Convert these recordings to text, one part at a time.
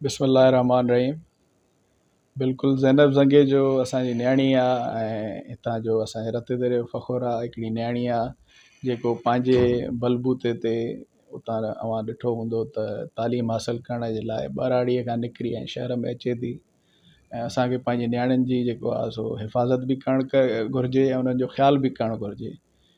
بسم الله الرحمٰن الرحيم بلڪل زينب زنگي جو اسان جي نياڻي آ ۽ اتان جو اسان جي رت دريو فخر آ هڪڙي نياڻي آ جيڪو پنهنجي بلبوتي تي اتان اوهان ڏٺو هوندو ته تعليم حاصل ڪرڻ جي لاء ٻهراڙي کان نڪري ۽ شهر ۾ اچي ٿي ۽ اسان کي پنهنجي نياڻين جي جيڪو آ سو حفاظت به ڪرڻ گهرجي ۽ انهن جو خيال به ڪرڻ گهرجي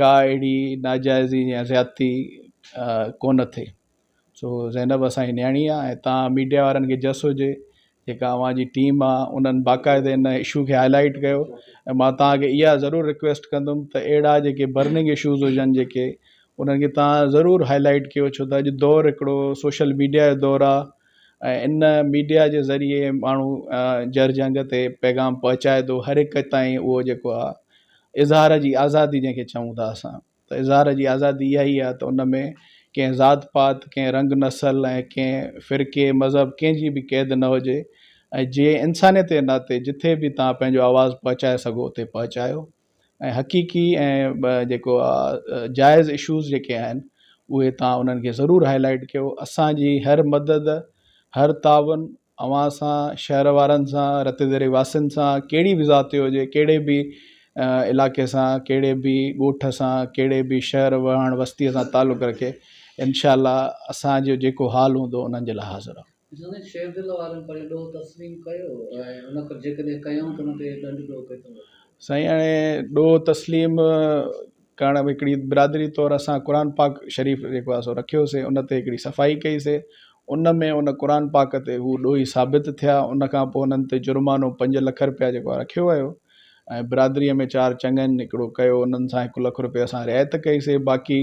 ڪا اهڙي ناجائزي يا زيادتي ڪونه ٿئي سو زينب اسانجي نياڻي آ ۽ تان ميڊيا وارن کي جس هجي جيڪا اوهانجي ٽيم آ انهن باقاعده ان اشو کي هائلائيٽ ڪيو ۽ مان تانکي اها ضرور رڪويسٽ ڪندم ته اهڙا جيڪي برننگ اشوز هجن جيڪي انهن کي تان ضرور هائلائيٽ ڪيو ڇو ته اڄ دور هڪڙو سوشل ميڊيا جو دور آ ۽ ان ميڊيا جي ذريعي ماڻهو جر جنگ تي پيغام پهچائي ٿو هر هڪ تائين اهو جيڪو آهي اظهار جي آزادي جنهن کي چئون ٿا اسان ته اظهار جي آزادي اها ئي آهي ته ان ۾ ڪنهن ذات پات ڪنهن رنگ نسل ۽ ڪنهن فرقي مذهب ڪنهن جي به قيد نه هجي ۽ جيئن انسانيت جي ناتي جتي به تهان پنهنجو آواز پهچائي سگهو اتي پهچايو ۽ حقيقي ۽ جيڪو آهي جائز اشوز جيڪي آهن اهي تان انهن کي ضرور هاء لائيٽ ڪيو اسانجي هر مدد هر تعاون اوهان سان شهر وارن سان رت ذري واسين سان ڪهڙي به ذات جو هجي ڪهڙي به علائقي سان ڪهڙي به ڳوٺ سان ڪهڙي به شهر واهڻ وستي سان تعلق رکي انشاء الله اسانجو جيڪو حال هوندو انهن جي لاء حاضر آهيون جنھن شير دل وارن پنھنجو ڏوھ تسليم ڪيو ۽ ان کان جيڪڏھن ڪيائون ته ان تي ڏنڊ ڏوھ ڪيو ٿو وٺي. سائين هاڻي ڏوهه تسليم ڪرڻ ۾ هڪڙي برادري طور اسان قرآن پاڪ شريف جيڪو آهي سو رکيو سي ان تي هڪڙي صفائي ڪئي سي ان ۾ ان قرآن پاڪ تي هو ڏوهي ثابت ٿيا ان کان پوء انهن تي جرمانو پنج لک رپيا جيڪو آهي رکيو ويو ۽ برادري ۾ چار چڱن هڪڙو ڪيو انهن سان هڪ لک رپيا اسان رعايت ڪئي سي باقي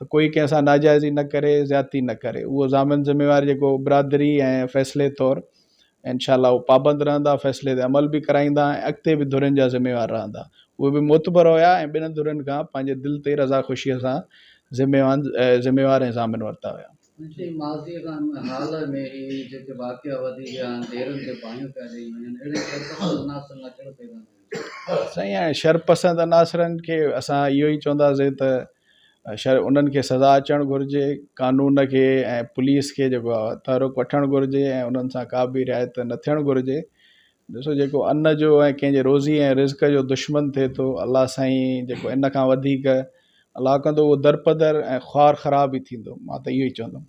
ته ڪوئي ڪنهن سان ناجائزي نه ڪري زيادتي نه ڪري اهو ضامن ذميوار جيڪو برادري ۽ فيصلي طور انشاء الله اهو پابند رهندا فيصلي تي عمل به ڪرائيندا ۽ اڳتي به ڌرين جا ذميوار رهندا اهي به معتبر هيا ۽ ٻنهن ڌرين کان پنهنجي دل تي رضا خوشي سان ذميوان ذميوار ۽ ضامن ورتا هيا. منشي ماضيء کان ان حال ۾ هي جيڪي واقعا وڌي ويا آهن ديرن تي باهيون پيا ڏئي وڃن اهڙي صورت ۾ مناسب نه ٿيڻ پئي رهندو سائين هاڻي شرپسند عناصرن کي اسان اهو ئي چونداسين ته شر انهن کي سزا اچڻ گهرجي قانون کي ۽ پوليس کي جيڪو آهي تحرڪ وٺڻ گهرجي ۽ انهن سان ڪا به رعايت نه ٿيڻ گهرجي ڏسو جيڪو ان جو ۽ ڪنهن جي روزي ۽ رزق جو دشمن ٿئي ٿو الله سائين جيڪو ان کان وڌيڪ الله ڪندو اهو درپدر ۽ خوار خراب ئي ٿيندو مان ته اهو ئي چوندم